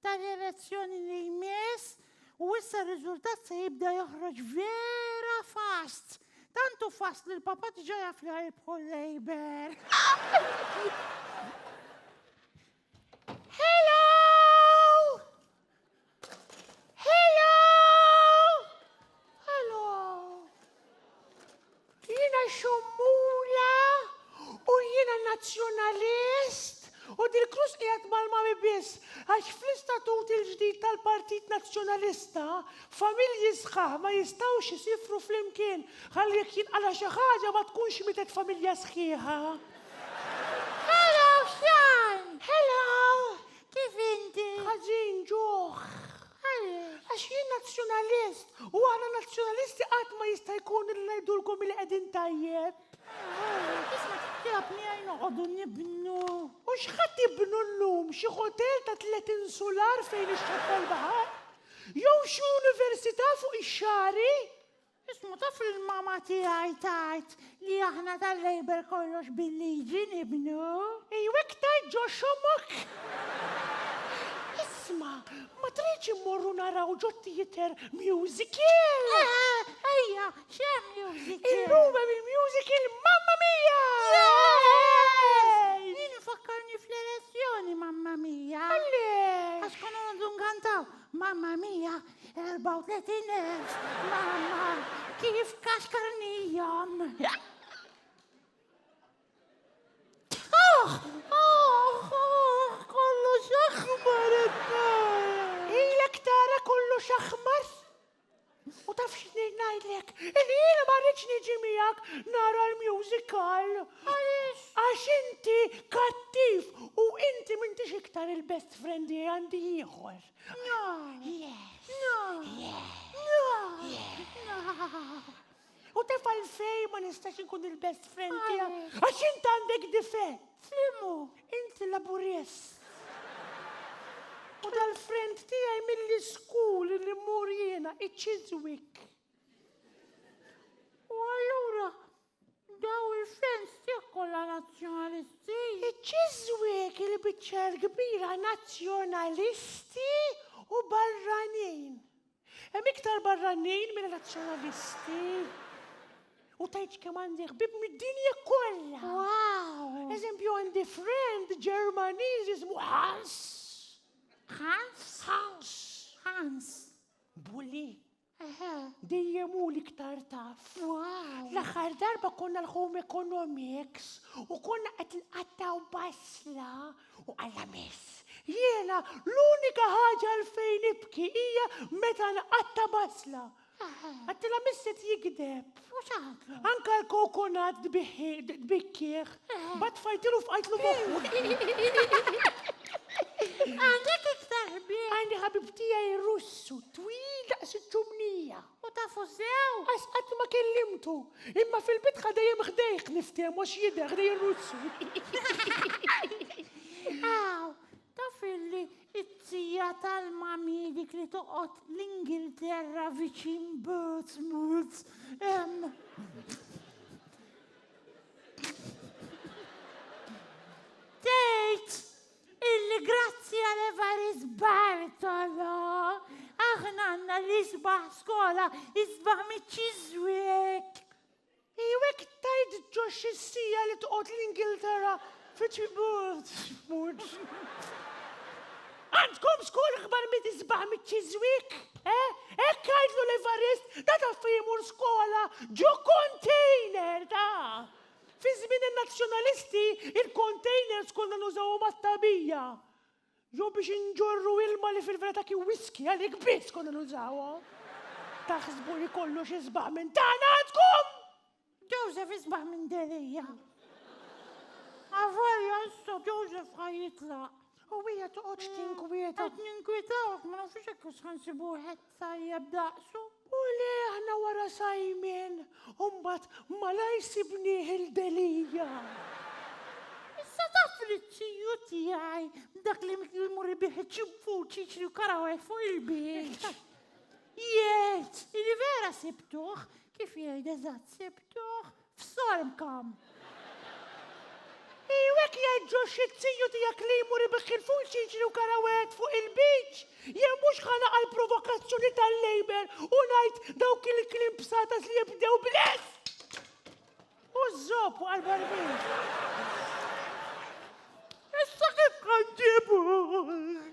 tal-elezzjoni li jmiss u issa r-riżultat se jibda joħroġ vera fast. Tantu fast li l-papa diġa jaf li ħajibħu l-Labour. Jiena xommula u jiena Nazzjonalist u dil-krus qiegħed mal-mami biss għax fl-istatut il-ġdid tal-Partit Nazzjonalista familji sħaħ ma jistgħux isifru flimkien ħalli jekk jinqala' xi ħaġa ma tkunx mietet familja sħiħa. Hello Sean! Hello! Kif inti? Ħażin ġuħ. Għax jien nazzjonalist u aħna nazzjonalisti qatt ma jista' jkun li ngħidulkom li qegħdin tajjeb. Isma' tikkjabni għaj noqogħdu nibnu. U x'ħadd ibnu llum xi ħotel ta' tliet insular fejn ixxatta l-baħar? Jew xi università fuq ix-xagħri? Ismu taf li l-mama tiegħi tgħid li aħna tal-Labour kollox bil-liġi nibnu? Ejjew iktar ġo xomok! Isma', ma tridx immorru naraw ġo theatre musical? Eħe, ejja, x'hemm musical? Illum hemm il-musical Mamma Mia! Yay! Din ifakkarni fl-elezzjoni Mamma Mia. Għaliex? Għax konna noqogħdu nkantaw Mamma Mia, 34,000, mamma, kif kaxkarnijam. Kollu xaħmar Ilek tara kollu xaħmar. U taf xni najdlek, il-jien ma rridx niġi miegħek nara l-musical. Għax inti kattiv u inti m'intix iktar il-best friend li għandi ieħor. U tef għalfej ma nistax inkun il-best friend tiegħek. Għax int għandek difett. Flimu, inti laburjes. U dal-friend tiegħi mill-iskul li mmur jiena iċ-Chiswick. U allura Daw il-friends tiegħek kollha Nazzjonalisti. Iċ-Ċiżwiek il-biċċa l-kbira Nazzjonalisti u barranin. Hemm iktar barranin minn Nazzjonalisti. U tgħidx kemm għandi ħbieb mid-dinja kollha. Wow! Eżempju għandi friend Ġermaniż jismu Hans. Hans? Hans. Hans. Bully. Eħe. Dejjem hu l-iktar taf. Wow. L-aħħar darba konna l-home economics u konna qed nqattaw basla u alla miss. Jiena l-unika ħaġa l fejn nibki hija meta nqatta basla. Għattila misset jigdeb. U xaħatlu? Anka l-kokonat dbikkieħ, bat fajtilu f'qajtlu moħħu. Għandek iktar ħbib. Għandi ħabib tiegħi russu, twil daqs iċ-ċumnija. U tafu sew? Għax qatt ma kellimtu, imma fil-bitħa dejjem ħdejh niftehmu x'jidher ħdej ir-russu. Aw, Taf illi t-tija tal-mami dik li toqgħod l-Ingilterra viċin Portsmouth hemm. Tgħid illi grazzi għal Evarist Bartolo aħna għandna l-isbaħ skola isbaħ miċ-ċiżwek. Ejjew hekk tard ġo x-siegħa li toqgħod l-Ingilterra fit-tribut. Għandkom skola akbar mill isbaħ miċ-Chiswick, eh? Hekk għidlu l-Evarist ta' taf fejn imur skola ġo container, taf! Fi żmien in-Nazzjonalisti, il-containers konna nużawhom għat-tagħbija. Jew biex inġorru ilma li fil-verità kien whiskey għalik biss konna nużawhom. Taħsbu li kollox isbaħ minn tagħna għandkom? Joseph isbaħ minn Delia. Avolja issa Joseph ħajitlaq. U hija toqgħodx tinkwieta. Qed ninkwitawk ma nafux hekk ħansibu wieħed Tajjeb daqsu. U le aħna wara Simon, u mbagħad malajr sibnieh il-Delia. Issa taf li t-tiju tiegħi, dak li jmur ibih iċ-ċimpuċ jiġri u karawaj fuq il-beach. Jgħid, li vera sibtuh, kif jgħid eżatt sibtuh, F'Sarmkam. Iju hekk jgħid Joshi t-tiju tiegħek li jmur ibigh il-full ċiċri u karawet fuq il-beach! Jien mhux ħa naqa' l-provokazzjoni tal-Labour u ngħid dawk il-kliem bsatas li jibdew bl-S! U ż-żopp waqa' l-barbin. Issa kif ħa nġibuh?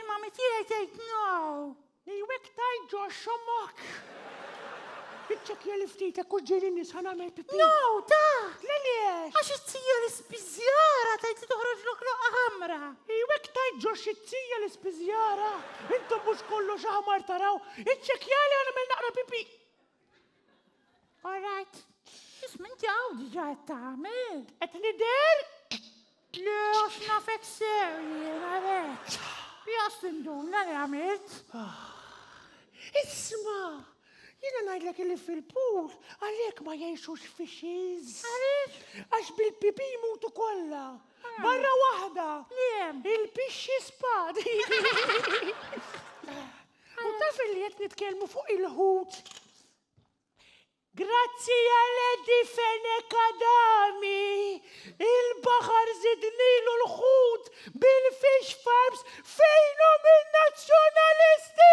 Imma mi tiegħi tgħid no! Ejwek tajt ġo xommok! Iċċekkja li ftit hekk u ġieli nies ħa nagħmel pipì. No, ta! L-għaliex? Għax it-tija l-ispiżjara tajt li toħroġ loqloqa ħamra. Ejwek tajt ġo xi tija l-ispiżjara! Intom mhux kollox aħmar taraw! Iċċekkja li ħa nagħmel naqra pipì! All right, x'ism inti hawn diġà qed tagħmel? Qed nidher? Le għax nafek sew jien għalhekk. Jas tinduna li għamilt. Ah, isma, jiena ngħidlek li fil-pool għalhekk ma jgħixux fishes. Għaliex? Għax bil-pipi jmutu kollha. Ah. Barra waħda. Li hemm? Il-pixxi spad. U taf li qed nitkellmu fuq il-ħut. Grazzi għal Edi Fenek Adami, il-baħar zidnilu l-ħut bil-fish farms fejnu minn nazzjonalisti!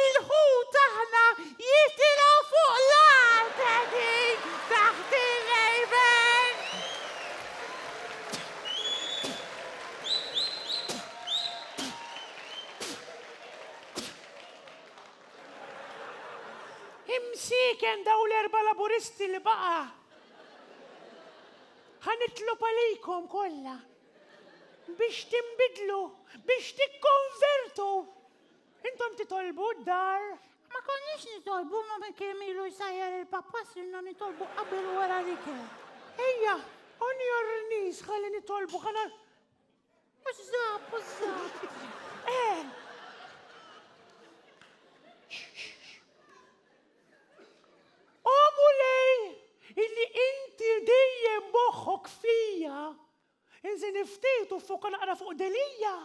Il-ħut aħna jitilgħu fuq l-art qegħdin taħt ir-rejben. Imsieken daw l-erba' Laburisti li baqa'. Ħa nitlob għalikom kollha biex tinbidlu, biex tikkonvertu. Intom titolbu d-dar. Ma konniex nitolbu ma minn kemm ilu jsajjar il-pappa sirna nitolbu qabel u wara l-ikel. Ejja, on your knees ħalli nitolbu ħana. Użżab, użżab. Eh! Omu lej illi inti dejjem moħħok fija Inżeni ftit u ffoka naqra fuq Delia!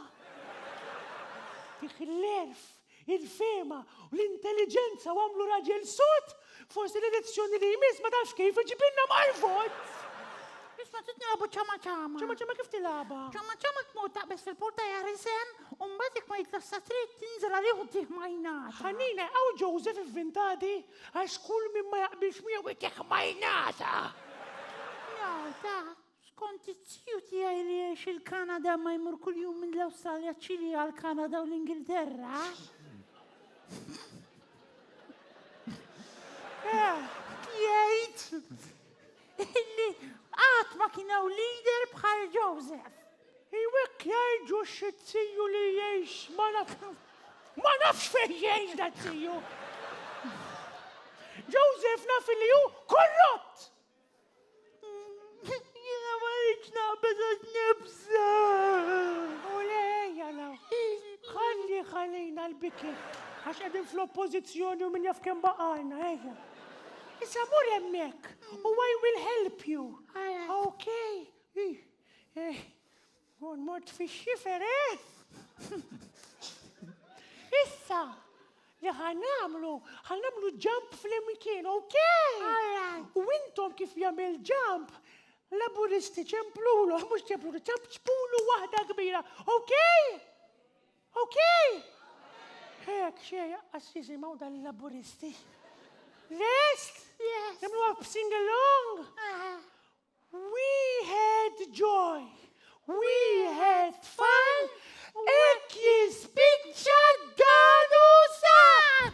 Fih l-għerf, il-fehma u l-intelliġenza u għamlu raġel sod! Forsi l-elezzjoni li jmiss ma tafx kif iġibilna mal-vot! Issa trid nilagħbu ċama ċama. Ċama ċama kif tilgħabha? Ċama ċama tmur taqbeż fil-porta jagħri sehem u mbagħad jekk ma jitlax sa trid tinżel għalih u tih majnata. Ħanina hawn Joseph ivvintadi għax kull min ma jaqbilx miegħu jtih majnata! Nota, Skont it-tiju tiegħi li jgħix il-Kanada ma jmur kuljum minn l-Awstralja ċili għal-Kanada u l-Ingilterra. Jgħid illi qatt ma kien hawn leader bħal Joseph. Iwek jgħidu x-tiju li jgħix ma naf. Ma nafx fejn jgħix da tiju. Joseph naf li hu korrott. Jiena ma rridx naqbeż għax nibża. U lejja law. Ħalli ħalina l-biki. Għax qegħdin fl-oppożizzjoni u min jaf kemm baqalna, ejja. Issa mur hemmhekk u I will help you. Okay. Eh, Kont mort fix-xifer, eh? Issa, li ħanamlu, ħanamlu ġamp fl-imkien, ok? U intom kif jagħmel ġamp, laburisti ċemplulu, mhux ċemplulu, ċemp ċpulu waħda kbira, ok? Ok? Hek, xej, għassizi maw dal-laburisti. Lest? Yes. Nimlu għab sing along? Wieħed ġoj, wieħed tfal, hekk jispiċċa d-dadu sad!